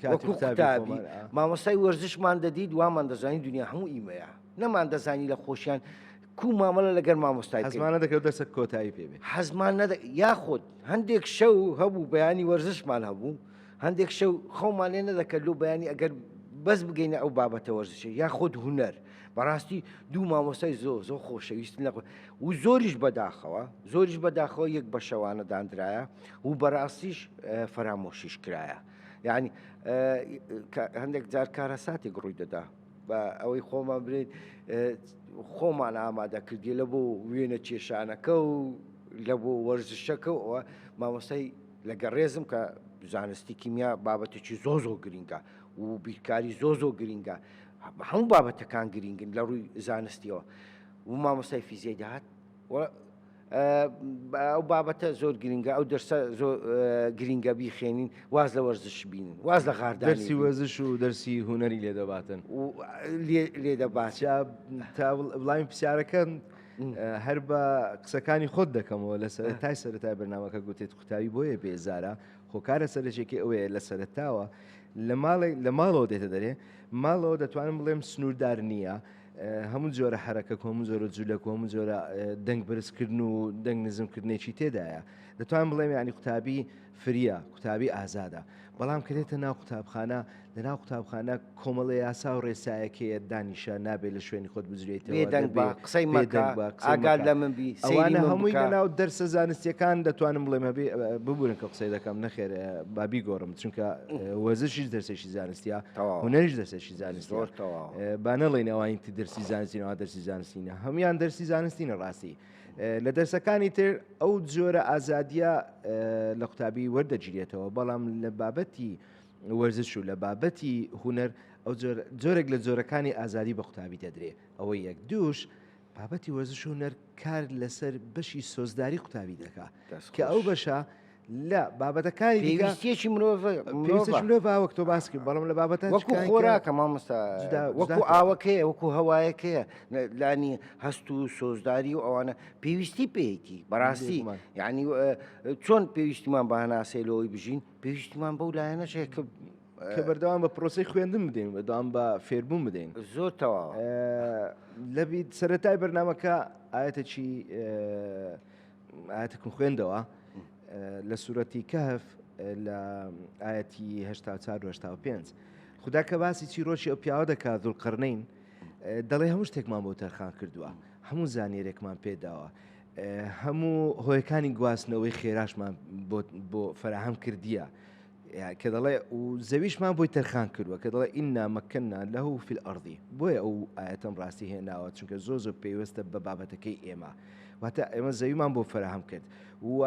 کاتابی مامۆسای وەرزشمان دەدیت وامان دەزانانی دنیا هەموو ئیمەیە نەمان دەزانی لە خۆشیان کوو مامەڵە لەگەر مامۆستای بکەین؟ حەزمان نەدەکرد دەرسەک کۆتایی پێ بێت. حەزمان نەدە یاخود هەندێک شەو هەبوو بەیانی وەرزشمان هەبوو هەندێک شەو خەومان لێ نەدەکرد لەو بەیانی ئەگەر بەس بگەینە ئەو بابەتە وەرزشە یاخود هونەر بەڕاستی دوو مامۆستای زۆ زۆ خۆشەویست لە و زۆریش بەداخەوە زۆریش بەداخەوە یەک بە شەوانە دانراە و بەڕاستیش فەرامۆشیش کرایە یعنی هەندێک جار کارە ساتێک ڕووی دەدا بە ئەوەی خۆمان برێت خۆمان ئامادەکردی لە بۆ وێنە کێشانەکە و لە بۆ وەرزشەکە ئەوە مامۆستای لەگە ڕێزم کە زانستی کیمیا بابەتێکی زۆ زۆ گرنگە و بیرکاری زۆ زۆ گرنگە هەموو بابەتەکان گرنگن لە ڕووی زانستیەوە و مامۆستای فیزیای داهات ئەو بابەتە زۆر گرنگە ئەو دەرسە زۆر گرنگە بیخێنین واز لە وەرزش بین واز لە غاردە دەرسی وەزش و دەرسی هوەری لێ دەباتن لێ دەبات تا بڵاوین پرسیارەکەم هەر بە قسەکانی خۆت دەکەمەوە لە سەرتای سەرای بەرنمەکە گوتێت قوتاوی بۆیە بێزارە خۆکارە سەرچێکی ئەوەیە لە سەرتاوە لە ماڵێک لە ماڵەوە دێتە دەرێ ماڵەوە دەتوانم بڵێم سنووردار نییە هەموو جۆرە حەرەکە کۆم و جۆرە جوولە کۆم و جۆرە دەنگ بەرزکردن و دەنگ نزمکردنێکی تێدایە دەتوان بڵێم ینی قوتابی فریە قوتابی ئازادە بەڵام کرێتە ناو قوتابخانە لە ناو قوتابخانە کۆمەڵی یاسا و ڕێسایەکەیە دانیشە نابێت لە شوێنی خۆت بجرێت دەنگ بە قسەی مەدەنگ بە ئاگار لە من بی ئەوانە هەمووی لە ناو دەرسە زانستیەکان دەتوانم بڵێ مەبێ ببورن کە قسەی دەکەم نەخێر بابی گۆڕم چونکە وەزشیش دەرسێکی زانستیە هەنەریش دەسێکی زۆر بانەڵین ئەوانی تی دەرسی زانستینەوە دەرسی زانستینە هەموان دەرسی زانستینە ڕاستی لە دەرسەکانی تر ئەو جۆرە ئازادیە لە قوتابی وەردەگیرێتەوە بەڵام لە بابەتی وەرزش و لە بابەتی هوەر ئەو جۆرێک لە جۆرەکانی ئازادی بە قوتابی دەدرێ ئەوە یەک دووش بابەتی وەرزش و هونەر کار لەسەر بەشی سۆزداری قوتابی دەکا کە ئەو بەشە لە بابەتەکانی دیگەستێکی مرۆڤ وەک تۆ باسکی بەڵم لە بابەتە وەکو خۆراکە مامۆستا وەکو ئاوەکەیە وەکو هەوایەکەیە لانی هەست و سۆزداری و ئەوانە پێویستی پێیەتی بەڕاستی یعنی چۆن پێویستیمان بەهناسەی لەوەی بژین پێویستیمان بەو لایەنەشەیە کە کە بەردەوام بە پرۆسی خوێندن بدەین بەدام بە فێربوون بدەین زۆر تەوا لەبییت سەتای بەرنمەکە ئاەتەکی ئاەتەکم خوێندەوە لە سوورەتی کەهف لە ئاەتی هشتا چاروهشتا پێنج خدا کە باسی چیرۆکی ئەو پیاوە دەکات دوول قڕنین دەڵێ هەموو شتێکمان بۆ تەرخان کردووە هەموو زانێرێکمان پێداوە هەموو هۆیەکانی گواستنەوەی خێراشمان بۆ فراهەم کردیە کە دەڵێ و زەویشمان بۆی تەرخان کردووە کە دەڵێ ئیننا مەکەننا لەه فی الارضی بۆیە ئەو ئاەتەم ڕاستی هێناوە چونکە زۆ زۆر پێوەستە بە بابەتەکەی ئێمە واتە ئێمە زەویمان بۆ فراهەم کرد و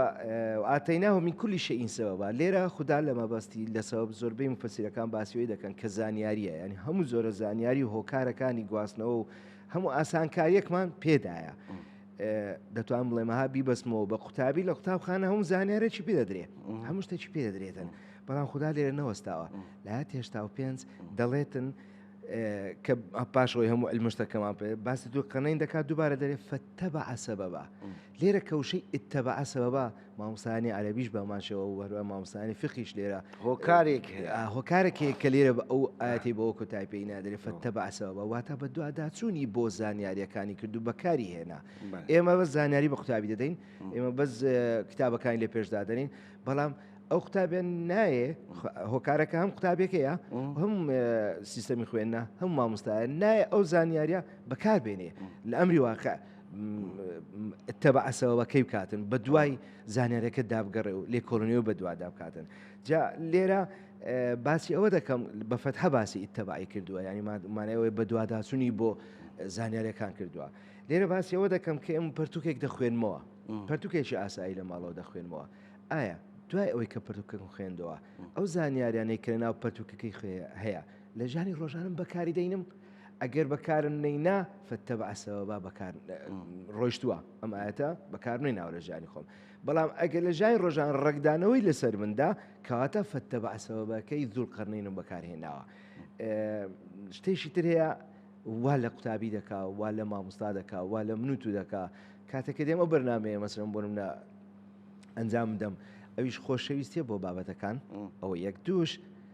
ئاتەیناوە من کولی شەئین سەبەبا لێرە خوددا لە مەبەستی لە سەبەب زۆربەی مفەسیرەکان باسیۆی دەکەن کە زانیاریە ینی هەموو زۆرە زانیاری هۆکارەکانی گواستنەوە و هەموو ئاسانکاریەکمان پێدایە. دەتوان بڵێمەها بیبەستمەوە بە قوتابی لە قوتابخانە هەم زانیارێکی پێ دەدرێ هەموو شتێکی پێ دەدرێتن بەڵام خوددا لێرە نەوەستاوە لە هێشتا و پێنج دەڵێتن کە پاشەوەی هەموو المشتەکەمان پێ باسی دوو قەنەین دەکات دووبارە دەرێ فەتە بە عسەبە بە لێرە کەوشەی ئتە بە عسەبە بە مامۆستایانی عەرەبیش بەمانشەوە و هەروە مامۆستایانی فقیش لێرە هۆکارێک هۆکارێک هەیە کە لێرە بە ئەو ئاەتی بەوە کۆتای پێی نادرێت فەتە بەعسەوە بە واتە بە دوواداچوونی بۆ زانیاریەکانی کردو بەکاری هێنا ئێمە بە زانیاری بە قوتابی دەدەین ئێمە بەس کتابەکانی لە پێشدادەین بەڵام ئەو قوتابێن نایێ هۆکارەکە هەم قوتابێکەیە هەم سیستەمی خوێندە هەم مامۆستایە نایە ئەو زانیاریە بەکار بێنێ لە ئەمری واقع تەبعەسەوەکەی بکاتن بە دوای زانارەکە دابگەڕێ و لێ کۆلنیەوە بە دوادا بکاتن جا لێرە باسی ئەوە دەکەم بە فەتحە باسی ئیتەبعی کردووە ینی مانەوەی بە دوواداچوونی بۆ زانارەکان کردووە لێرە باسی ئەوە دەکەم کە ئەم پرتوکێک دەخوێنمەوە پرتوکێکی ئاسایی لە ماڵەوە دەخوێنمەوە ئایا دوای ئەوەی کە پرتوکەکەم خوێندەوە ئەو زانیاریانەی کە ناو پرتوکەکەی خوێ هەیە لە ژیانی ڕۆژانم بەکاری دەینم ئەگەر بەکارم نەینا فەتەبعسەوەبا بەکار ڕۆشتووە ئەم ئاەتە بەکار نوێ ناوە لە ژیانی خۆم بەڵام ئەگەر لە ژای ڕۆژان ڕەگدانەوەی لەسەر مندا کەواتە فەتەبعسەوەبەکەی زول قەرنینم بەکارهێناوە شتێکی تر هەیە وا لە قوتابی دەکا وا لە مامۆستا دەکا وا لە منوت و دەکا کاتەکە دێمە بەرنمەیە مەسرم بۆ منە ئەنجام دەم ئەویش خۆشەویستە بۆ بابەتەکان ئەوە یەک دوش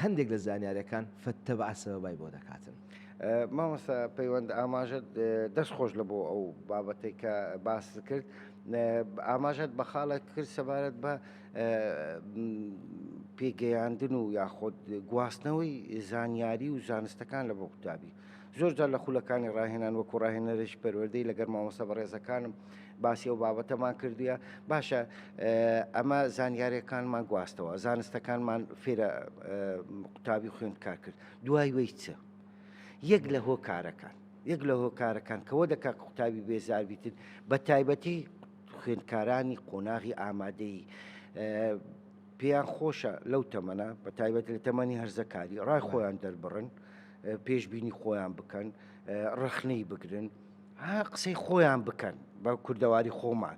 هەندێک لە زانیاریەکان فەتتەبع سەبەبای بۆ دەکاتن. مامۆستا پەیوەند ئاماژەت دەست خۆش لە بۆ ئەو بابەتەی کە باست کرد ئاماژەت بە خاڵێک کرد سەبارەت بە پێگەیاندن و یاخۆد گواستنەوەی زانیاری و زانستەکان لە بۆ قوتابی زۆرجار لە خولەکانی ڕاهێنان وەکو ڕاهێنەرێکی پەروەردەی لەگەر مامۆستا بەڕێزەکانم باسی ئەو بابەتەمان کردووە باشە ئەمە زانیارەکانمان گواستەوە زانستەکانمان فێرە قوتابی خوێند کار کرد دوای وی چ یەک لە هۆکارەکان یەک لە هۆکارەکان کەەوە دەکا قوتابی بێزاربیتن بە تایبەتی خوێندکارانی قۆناغی ئامادەی پێیان خۆشە لەو تەمەە بە تایبەت لە تەمەنی هەرزەکاری ڕای خۆیان دەربڕن پێشبینی خۆیان بکەن ڕەخنەی بگرن ها قسەی خۆیان بکەن بە کوردەواری خۆمان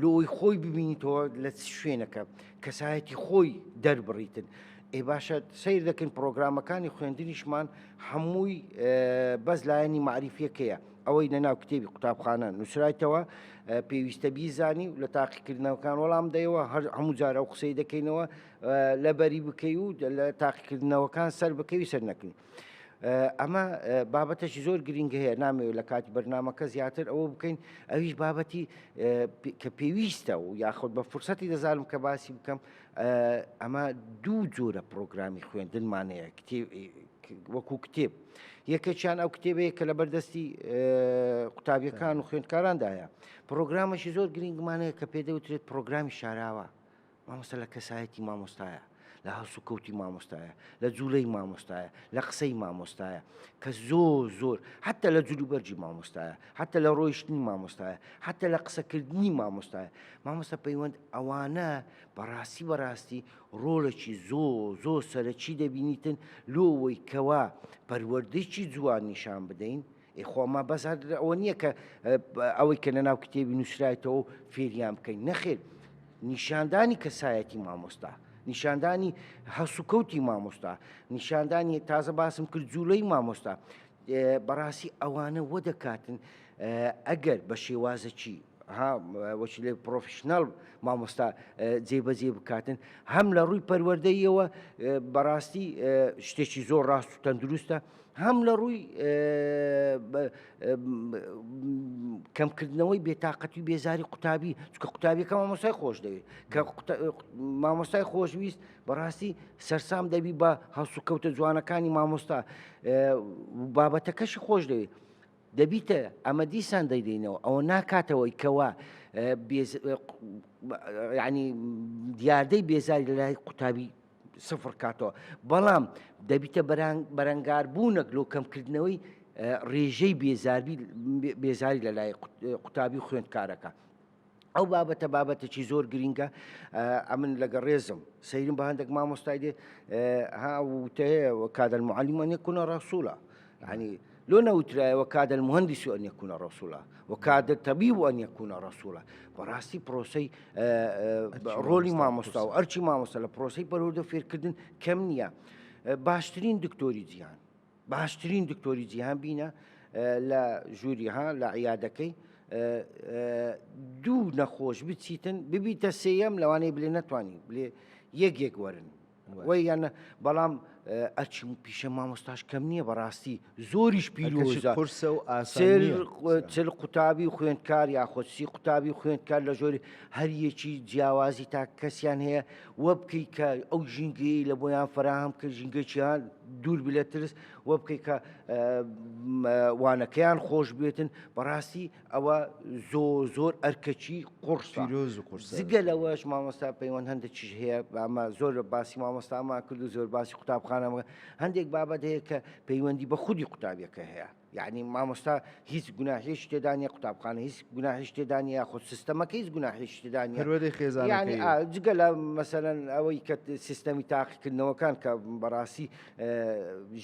لۆی خۆی ببینیتەوە لە شوێنەکە کەسایەتی خۆی دەربڕیتن ئێ باشە سیر دەکەن پرۆگرامەکانی خوێندنیشمان هەمووی بەس لایەنی معریفیەکەیە ئەوەی نەناو کتێبی قوتابخانە نووسرایتەوە پێویستە بیزانی و لە تاقیکردنەوەکان وەڵام دەیەوە هەر هەموو جارە و قسەی دەکەینەوە لەبەری بکەی و لە تاقیکردنەوەکان سەر بکەوی سەر نەکەین. ئەمە بابەتەشی زۆر گرنگ هەیە نامەوێت لە کاتی بەرنمەکە زیاتر ئەوە بکەین ئەویش بابەتی کە پێویستە و یاخود بە فرسەتی دەزانم کە باسی بکەم ئەمە دوو جۆرە پرۆگرامی خوێندنمانەیە وەکو کتێب یەکەچیان ئەو کتێبەیە کە لە بەردەستی قوتابیەکان و خوێندکاراندایە پرۆگرامەشی زۆر گرنگمانەیە کە پێدەوترێت پرۆگرامی شاراوە مامۆستا لە کەسایەتی مامۆستایە، لە هەڵسوکەوتی مامۆستایە، لە جوڵەی مامۆستایە، لە قسەی مامۆستایە، کە زۆر زۆر، حەتە لە جلوبەرگی مامۆستایە، حەتە لە ڕۆیشتنی مامۆستایە، حەتە لە قسەکردنی مامۆستایە، مامۆستا پەیوەند ئەوانە بەڕاستی بەڕاستی ڕۆڵێکی زۆر زۆر سەرەکی دەبینیتن لۆ ئەوەی کەوا پەروەردەیەکی جوان نیشان بدەین، ئێ خۆ ئەمە بەس هەر ئەوە نییە کە ئەوەی کە لەناو کتێبی نووسرایتەوە و فێریان بکەین نەخێر نیشاندانی کەسایەتی مامۆستا نیشاندانی هەسوکەوتی مامۆستا نیشاندانی تازە باسم کرد جوولەی مامۆستا بەڕاستی ئەوانە وە دەکاتن ئەگەر بە شێوازەکی وەچی لێ پرۆفشنەڵ مامۆستا جێبەجێ بکاتن هەم لە ڕووی پەروەردەیەوە بەڕاستی شتێکی زۆر ڕاست و تەندروستە هەم لە ڕووی کەمکردنەوەی بێتاقەتی بێزاری قوتابی چکە قوتابیەکە مامۆسای خۆش دەوێت کە مامۆستای خۆشویست بەڕاستی سەرسام دەبی بە هەڵسوکەوتە جوانەکانی مامۆستا بابەتەکەشی خۆش دەوێت دەبیتە ئەمە دیسان دەیدەینەوە ئەوە ناکاتەوەی کەوا ینی دیاردەی بێزاری لە لای قوتابی سفر کاتەوە بەڵام دەبیتە بەرەنگار بوونەک لۆ کەمکردنەوەی ڕێژەی بێزاری لە لای قوتابی خوێندکارەکە. ئەو بابەتە بابەتێکی زۆر گرینگە ئەمن لەگە ڕێزم سەیرم بە هەندێک مامۆستای دێ ها وتەیە کادەر معلیمەنی کوونە ڕسوولە یەعنی لۆ نەوترایە وە کادر مهندس ان یکون رسولا وە کادر طبیب ان یکون رسولا بەڕاستی پرۆسەی ڕۆلی مامۆستا و ئەرچی مامۆستا لە پرۆسی پەرۆردە فێرکردن کەم نییە باشترین دکتۆری جیهان باشترین دکتۆری جیهان بینە لە ژووریها لە عیادەکەی دوو نەخۆش بچیتن ببیتە سێەم لەوانەیە بلێ نەتوانانی بلێ یەک یەک وەرن وەی یانە بەڵام ئەچم پیشە مامۆستاش کەم نییە بەڕاستی زۆریش پیرۆژە قرسە و ئاسل قوتابی و خوێندکار یاخۆ سی قوتابی و خوێندکار لە ژۆری هەریەکی جیاوازی تا کەسیان هەیە وە بکەی کە ئەو ژینگەی لە بۆیان فراهام کە ژینگەچیان دوور بلە ترس وە بکەی کە وانەکەیان خۆش بێتن بەڕاستی ئەوە زۆ زۆر ئەرکەچی قڕسە پیرۆز و قورسە زگە لەوەش مامۆستا پەیوەند هەندە چیش هەیە بامە زۆر لە باسی مامۆستاما کرد و زۆر باسی قوتابخانەمە هەندێک بابەت هەیە کە پەیوەندی بە خودی قوتابیەکە هەیە یعنی مامۆستا هیچ گوناهێش تێدانە قوتابخانە هیچ گوناهش تێدانە یاخود سیستەمەکە هیچ گوناهێش تێدانە پەروەردەی خێزان یعنی یانەکەی. ئا، جگە لە مەسەرەن ئەوەی کە سیستەمی تاقیکردنەوەکان کە بەڕاستی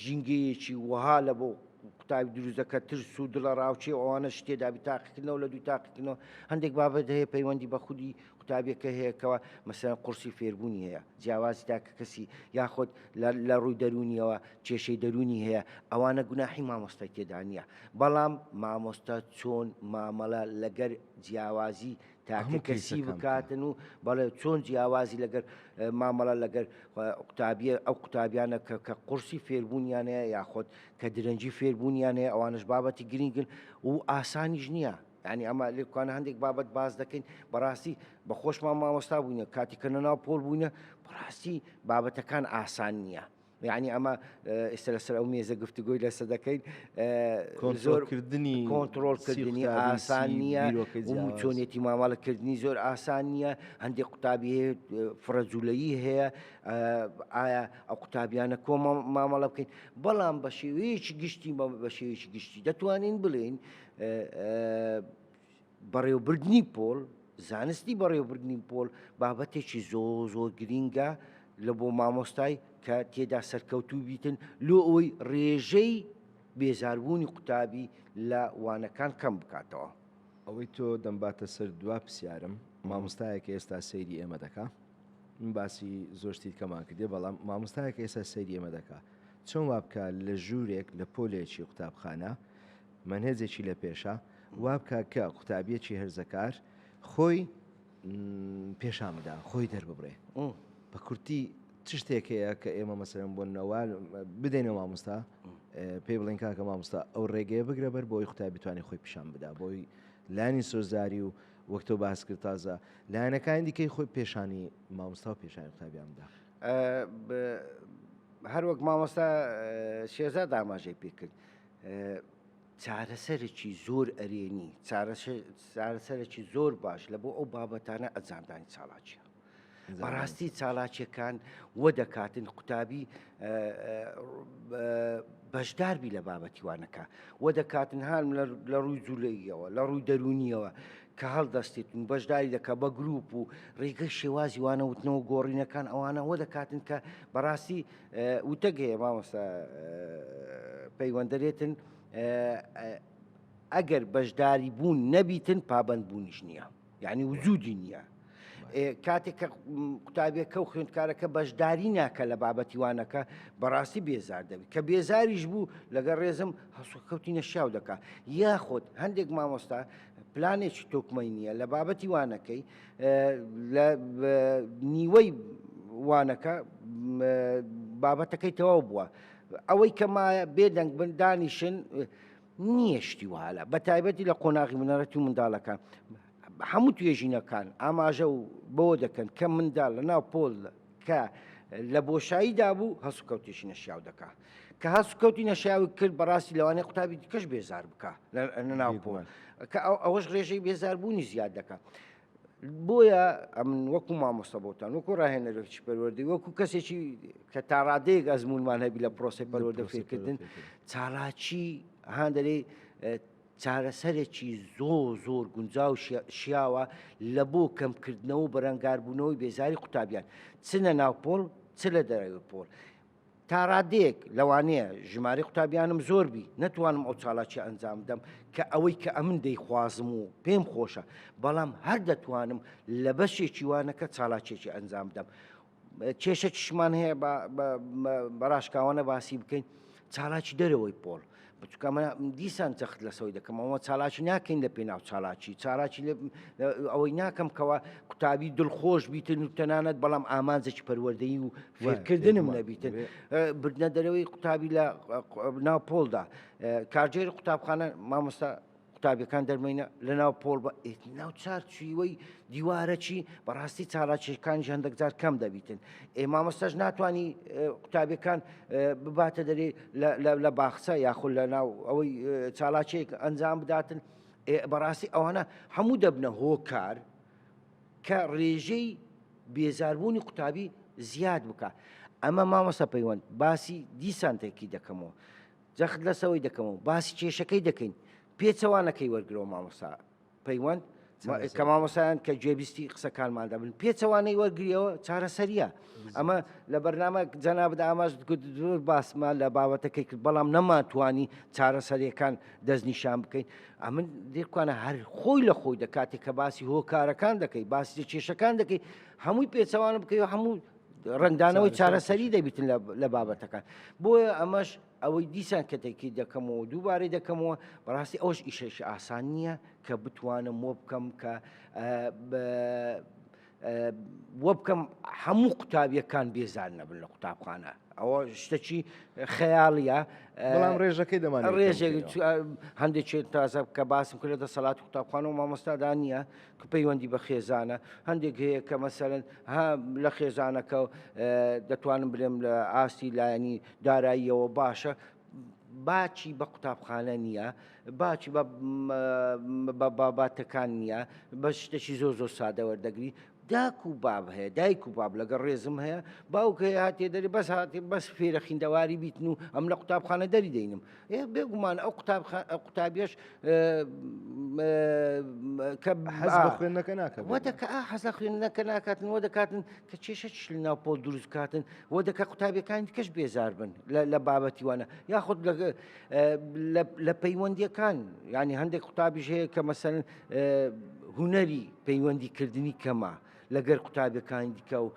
ژینگەیەکی وەها لە بۆ قوتابی دروست دەکات ترس و دڵە ڕاوچێ ئەوانە شتێ دابی تاقیکردنەوە لە دوو تاقیکردنەوە هەندێک بابەت هەیە پەیوەندی بە خودی قوتابیەکە هەیەکەوە مەسەن قورسی فێربوونی هەیە جیاوازی تاکە کەسی یاخۆت لە ڕووی دەرونیەوە کێشەی دەرونی هەیە ئەوانە گوناحی مامۆستای تێدانە بەڵام مامۆستا چۆن مامەڵە لەگەر جیاوازی تاکە کەسی بکاتن و بەڵێ چۆن جیاوازی لەگەر مامەڵە لەگەر قوتابیە ئەو قوتابیانە کە کە قورسی فێربوونیانەیە یاخۆت کە درەنجی فێربوونیانەیە ئەوانش بابەتی گرنگن و ئاسانیش نییە ینی ئەمە لێکوانە هەندێک بابەت باز دەکەین بەڕاستی بە خۆشمان مامۆستا بووینە کاتی کە نەناو پۆل بووینە بەڕاستی بابەتەکان ئاسان نییە یەعنی ئەمە ئێستا لەسەر ئەو مێزە گفتوگۆی لەسە دەکەین زۆر کردنی کۆنتترۆلکردنی ئاسان نییە چۆنێتی مامەڵەکردنی زۆر ئاسان نییە هەندێک قوتابی فڕەجوولەیی هەیە ئایا ئەو قوتابیانە کۆ مامەڵە بکەین بەڵام بە شێوەیەکی گشتی بە شێوەیەکی گشتی دەتوانین بڵێین بەڕێوەبردنی پۆل، زانستی بەڕێوەبردنی پۆل بابەتێکی زۆر زۆر گرینگە لە بۆ مامۆستای کە تێدا سەرکەوتوو بیتن لۆ ئەوەی ڕێژەی بێزاربوونی قوتابی لە وانەکان کەم بکاتەوە. ئەوەی تۆ دەمباتە سەر دوا پرسیارم، مامۆستایەکە ئێستا سەیری ئێمە دەکا، من باسی زۆر شتی دیکەمان کردیە، بەڵام مامۆستایەکە ئێستا سەیری ئێمە دەکا، چۆن وا بکا لە ژوورێک لە پۆلێکی قوتابخانە مەنهەجێکی لە پێشە، وابکە کە قوتابیەکی هەرزەکار خۆی پێشان بدا خۆی دەرببڕێ بە کورتی چ شتێک هەیە کە ئێمە مەسەرم بۆ نەوە بدەینە مامۆستا پێی بڵین کاکە مامۆستا ئەو ڕێگەیە بگرە بەر بۆی قوتابیتوانی خۆی پیشان بدا بۆی لانی سۆزداری و وەکتۆ باس کرد تازە لایەنەکانی دیکەی خۆی پێشانی مامۆستا و پێشانی قوتابیان بدا هەروەک مامۆستا شێزا داماژەی پێکرد چارەسەرەکی زۆر ئەرێنی، چارەسەرەکی زۆر باش لە بۆ ئەو بابەتانە ئەجاندانی چالاکیە. بەڕاستی چالاکیەکان وە دەکاتن قوتابی بەشداربی لە بابەتیوانەکە وە دەکاتن هاان لە ڕووی جوولەیەوە لە ڕووی دەرونیەوە کە هەڵدەستێتن بەشداری دەکە بە گروپ و ڕێگەی شێوازی وانەوتنەوە گۆڕینەکان ئەوانەوە دەکاتن کە بەڕاستی وتەک هەیە مامۆستا پەیوەندەرێتن ئەگەر بەشداری بوون نەبیتن پابند بوونیش نییە یعنی وجودی نییە کاتێک کە قوتابیەکە و خوێندکارەکە بەشداری ناکە لە بابەتیوانەکە بەڕاستی بێزار دەبێت کە بێزاریش بوو لەگەڵ ڕێزم هەسوکەوتی نەشیاو دەکات یاخود هەندێک مامۆستا پلانێکی تۆکمەی نییە لە بابەتی وانەکەی لە نیوەی وانەکە بابەتەکەی تەواو بووە ئەوەی کە مایە بێدەنگ بن دانیشن نییە شتی وهالە بە تایبەتی لە قۆناغی منەرەتی و منداڵەکان هەموو توێژینەکان ئاماژە و بەوە دەکەن کە منداڵ لە ناو پۆل کە لە بۆشایی دابوو هەسوکەوتێکی نەشیاو دەکا کە هەسوکەوتی نەشیاوی کرد بەڕاستی لەوانەیە قوتابی دیکەش بێزار بکە ناو بووە کە ئەوەش ڕێژەی بێزاربوونی زیاد دەکە. بۆیە ئەمن وەکو مامۆستا بۆتان وەکو ڕاهێنەرێکی پەروەردەی وەکو کەسێکی کە تاڕادەیەک ئەزمونمان هەبی لە پرۆسی پەروەردە فێرکردن چالاکی هاندەرەی چارەسەرێکی زۆر زۆر گونجاو و شیاوە لە بۆ کەمکردنەوە و بەرەنگاربوونەوەی بێزاری قوتابیان چ لە ناو پۆل چ لە دەرەوەی پۆل. تا ڕادەیەک لەوانەیە ژمارەی قوتابیانم زۆر بی نەتوانم ئەو چالاکیە ئەنجام بدەم کە ئەوەی کە ئەمن دەیخوازم و پێم خۆشە، بەڵام هەر دەتوانم لە بەشێکی وانەکە چالاکیەکی ئەنجام بدەم. کێشە چشمان هەیە بەڕاشکاوانە باسی بکەین چالاکی دەرەوەی پۆل بچکە من دیسان جەخت لەسەوەی دەکەم ئەوە چالاکی ناکەین لە پێناو چالاکی چالاکی ئەوەی ناکەم کەەوە قوتابی دڵخۆش بیتن و تەنانەت بەڵام ئامانجێکی پەروەردەی و فێرکردنم نەبیتن بردنە دەرەوەی قوتابی لە ناو پۆلدا کارجێر قوتابخانە مامۆستا قوتابیەکان دەرمەینە لە ناو پۆڵ بە ناو چار چویوەی دیوارەچی بەڕاستی چالاکیەکانیش هەندێکجار کەم دەبیتن ئێ مامۆستاش ناتانی قوتابیەکان بباتە دەرێ لە باخچە یاخود لە ناو ئەوەی چالاکێک ئەنجام بداتن بەڕاستی ئەوانە هەموو دەبنە هۆکار کە ڕێژەی بێزاربوونی قوتابی زیاد بکە ئەمە مامۆستا پەیوەند باسی دیسانتێکی دەکەمەوە جەخت لەسەوەی دەکەمەوە باسی کێشەکەی دەکەین پێچەوانەکەی وەرگرەوە مامۆسا پەیوەند کە مامۆسایان کە گوێبیستی قسەکانماندا بن پێچەوانەی وەرگریەوە چارەسەریە ئەمە لە بەرنامە جەنابدا ئاماژ زۆر باسمان لە بابەتەکەی کرد بەڵام نەماتوانی چارەسەریەکان دەستنیشان بکەین ئەمن دێکوانە هەر خۆی لە خۆی دەکاتێک کە باسی هۆکارەکان دەکەی باسی کێشەکان دەکەی هەمووی پێچەوانە بکەی و هەموو ڕەنگدانەوەی چارەسەری دەبیتن لە بابەتەکان بۆیە ئەمەش ئەوەی دیسان کەتێکی دەکەمەوە دووبارەی دەکەمەوە بەڕاستی ئەوش ئیشێکی ئاسان نییە کە بتوانم وە بکەم کە وە بکەم هەموو قوتابیەکان بێزار نەبن لە قوتابخانە ئەوە شتەکی خەیاڵە بەڵام ڕێژەکەی دەمان ڕێژێک هەندێک تازە کە باسم کرێتە سەلات قوتابخانە و مامۆستادانە کە پەیوەندی بە خێزانە هەندێک هەیە کە مەسەرەن ها لە خێزانەکە دەتوانم بلێم لە ئاستی لایەنی داراییەوە باشە باچی بە قوتابخانە نییە باچی بە باباتەکان نییە بە شتەکی زۆر زۆر سادە وەردەگری داک و باب هەیە دایک و باب لەگە ڕێزم هەیە باوکە هاتێ دەری بەس هااتێ بەس فێرە خیندەواری بیتن و ئەم لە قوتابخانە دەری دەینم بێگومان ئەو قوتابیش کە خوێندەکە ناکە وەدەکە حەزە خوێندەکە ناکاتن وە دەکاتن کە کێشە چل ناو پۆل دروست کاتن وە دەکە قوتابیەکان کەش بێزار بن لە بابەتی وانە یاخود لە پەیوەندیەکان ینی هەندێک قوتابیش هەیە کە مەسەن هوەری پەیوەندیکردنی کەمە. لەگەر قوتابەکانی دیکە و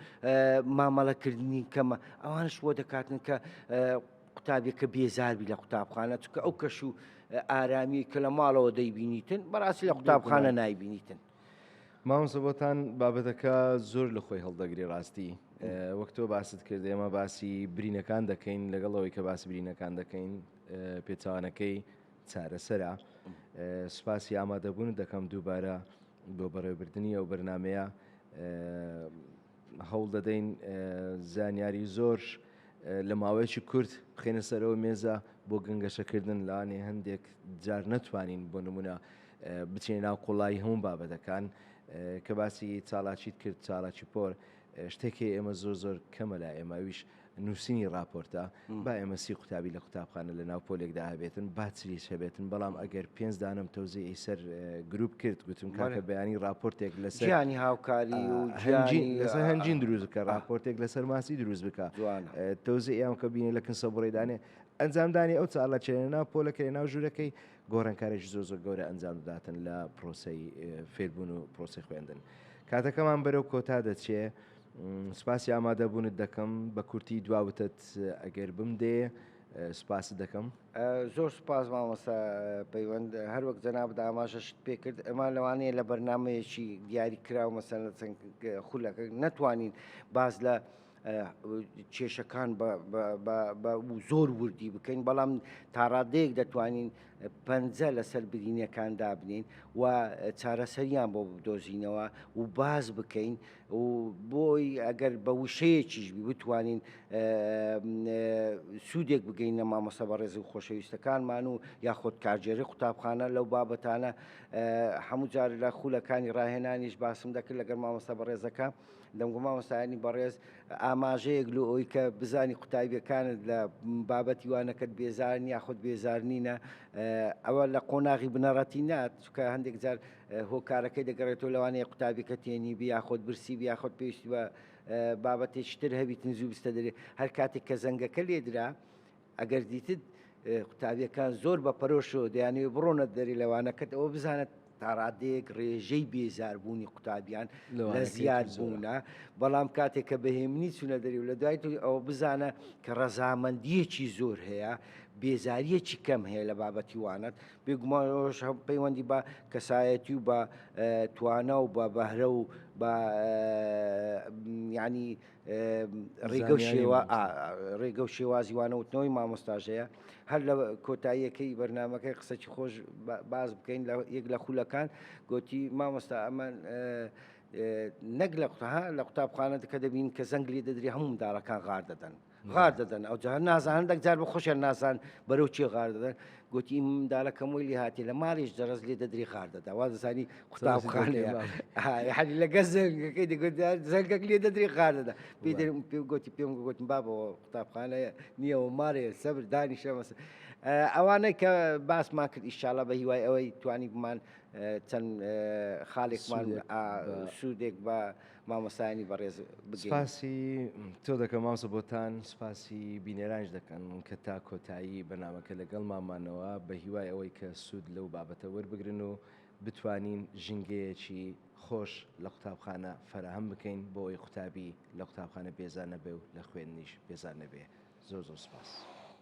مامەڵەکردنی کەمە ئەوانش بۆ دەکاتن کە قوتابیەکە بێزار بی لە قوتابخانە چکە ئەو کەش و ئارامی کە لە ماڵەوە دەیبینیتن بەڕاستی لە قوتابخانە نایبینیتن. مامۆستا بۆتان بابەتەکە زۆر لە خۆی هەڵدەگری ڕاستی وەک تۆ باست کرد ئێمە باسی برینەکان دەکەین لەگەڵ ئەوەی کە باسی برینەکان دەکەین پێچوانەکەی چارەسەرە سوپاسی ئامادەبوون دەکەم دووبارە بۆ بەڕێوبردننی ئەو بەرنمەیە هەوڵ دەدەین زانیاری زۆر لە ماوەیەکی کورت بخینە سەرەوە مێزە بۆ گەنگەشەکردن لەوانێ هەندێک جار نەتوانین بۆ نمونە بچینە ناو قوڵایی هەموو بابەتەکان کە باسی چالاکیت کرد چالاکی پۆر شتێکی ئێمە زۆر زۆر کەمە لە ئێمەویش نووسینی ڕاپۆرتە با ئێمە سی قوتابی لە قوتابخانە لە ناو پۆلێکدا هەبێتن با چریش هەبێتن بەڵام ئەگەر پێنج دانم تەوزیعی سەر گروپ کرد گوتم کاکە بەیانی ڕاپۆرتێک لەسەر ژیانی هاوکاری و هەنجین لەسەر هەنجین دروست بکە ڕاپۆرتێک لەسەر ماسی دروست بکە تەوزی ئەم کە بینێ لە کنسە بڕێدانێ ئەنجامدانی ئەو چاڵە چێنە ناو پۆلەکەی ناو ژوورەکەی گۆڕنکارێکی زۆ زۆر گەورە ئەنجام دەداتن لە پرۆسی فێربوون و پرۆسی خوێندن کاتەکەمان بەرەو کۆتا دەچێت سپاسی ئامادە بونت دەکەم. بە کورتی دوا وتەت ئەگەر بمدێ سپاست دەکەم. زۆر سوپاس مامۆستا پەیوەند. هەر وەک جەنابت ئاماژەشت پێ کرد ئەمان لەوانەیە لە بەرنامەیەکی دیاری کراو مەسەلەن چەند خولەکە نەتوانین باس لە کێشەکان بە زۆر وردی بکەین بەڵام تاڕادەیەک دەتوانین پەنجە لەسەر برینەکان دابنێین و چارەسەریان بۆ بدۆزینەوە و باس بکەین و بۆی ئەگەر بە وشەیەکیش بی بتوانین سوودێک بگەینە مامۆستا بەڕێز و خۆشەویستەکانمان و یاخۆد کارگێری قوتابخانە لەو بابەتانە هەموو جار لە خولەکانی ڕاهێنانیش باسم دەکرد لەگەر مامۆستا بەڕێزەکە دەمگو مامۆستایانی بەڕێز ئاماژەیەک لە ئەوی کە بزانی قوتابیەکانت لە بابەتی وانەکەت بێزارن یاخود بێزارنینە ئەوە لە قۆناغی بنەڕەتی نات چکە هەندێک جار هۆکارەکەی دەگەڕێتەوە لەوانەیە قوتابیەکە تێنیبی یاخۆت برسیبی یاخۆت پێویستی بە بابەتێکی تر هەبیت نزوو بستە دەرێ هەر کاتێک کە زەنگەکە لێدرا ئەگەر دیتت قوتابیەکان زۆر بە پەرۆشەوە دەیانەوێ بڕۆنە دەری لەوانەکەت ئەوە بزانێت تاڕادەیەک ڕێژەی بێزاربوونی قوتابیان لە زیاد بوونە بەڵام کاتێک کە بەهێمنی چونە دەری و لە دوای تو ئەوە بزانە کە ڕەزامەندیەکی زۆر هەیە بێزاریەکی کەم هەیە لە بابەتی وانەت بێگومان ئەوەش هەم پەیوەندی بە کەسایەتی و بە توانا و بە بەهرە و بە ینی ڕێگە و شێوە ڕێگە و شێوازی وانەوتنەوەی مامۆستاژەیە هەر لە کۆتاییەکەی بەرنمەکەی قسەکی خۆش باز بکەین لە یەک لە خولەکان گوتی مامۆستا ئەمان نەک لە قوتها لە قوتابخانە کە دەبین کە زەنگ لێ دەدرێ هەموو منداڵەکان غار دەدەن غار دەدەن ئەو جار نازانن دەکجار بە خۆشیان ناسان بەرەو چێ غار دەدەن گوتی منداڵەکەم وی لێ هاتی لە ماڵیش دەڕز لێ دەدری غار دەدا وا دەزانی قوتابخانەیە حەلی لەگە زەنگەکەی دەگوت زەنگەک لێ دەدری غار دەدا پێدرم پێ گوتی پێم گوتم بابەوە قوتابخانەیە نییەوە مارێ سەبر دانی شەمەسە ئەوانەی کە باسمان کرد ئیشاالله بە هیوای ئەوەی توانی بمان چەند خاڵێکمان سوودێک بە مامۆستایانی بەڕێز بگێم. سپاسی تۆ دەکەم مامۆستا بۆتان، سپاسی بینەرانیش دەکەن کە تا کۆتایی بەرنامەکە لەگەڵمان مانەوە، بە هیوای ئەوەی کە سوود لەو بابەتە وەربگرن و بتوانین ژینگەیەکی خۆش لە قوتابخانە فەراهەم بکەین بۆ ئەوەی قوتابی لە قوتابخانە بێزار نەبێ و لە خوێندنیش بێزار نەبێ. زۆر زۆر سپاس.